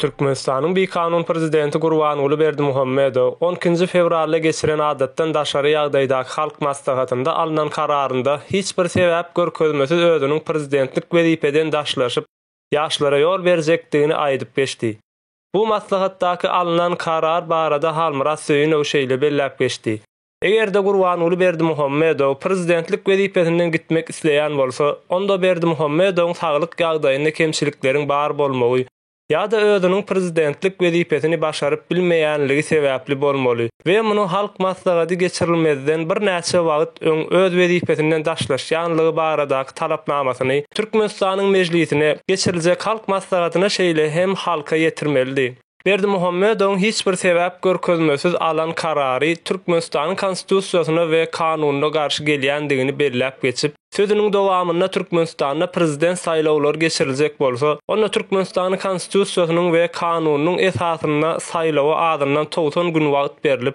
Türkmenistanyň bikanun prezidenti Gurbanguly Berdimuhamedow on ikinji fewralda geçiren adatdan daşary ýagdaýdaky Halk Maslahatynda alnan kararynda hiç bir sebäp görkezmesiz özüniň prezidentlik wezipeden daşlaşyp, ýaşlara ýol berjekdigini aýdyp geçdi. Bu maslahatdaky alnan karar barada Halmyrat Söýünow şeýle belläp geçdi, Eger-de Gurbanguly Berdimuhamedow prezidentlik wezipesinden gitmek isleýän bolsa, onda Berdimuhamedowyň saglyk ýagdaýynda kemçilikleriň bar bolmagy ýa-da özüniň prezidentlik wezipesini başaryp bilmeýänligi sebäpli bolmaly we muny Halk Maslahady geçirilmezden birnäçe wagt öň öz wezipesinden daşlaşýanlygy baradaky talapnamasyny Türkmenistanyň Mejlisine, geçiriljek Halk Maslahatyna şeýle hem halka ýetirmelidi. Berdimuhamedowyň hiç bir sebäp görkezmesiz alan karary Türkmenistanyň Konstitusiýasyna we kanunyna garşy gelýändigini belläp geçip, sözüniň dowamynda Türkmenistanda prezident saýlawlary geçiriljek bolsa, onda Türkmenistanyň Konstitusiýasynyň we kanunynyň esasynda saýlawa azyndan togsan gün wagt berlip,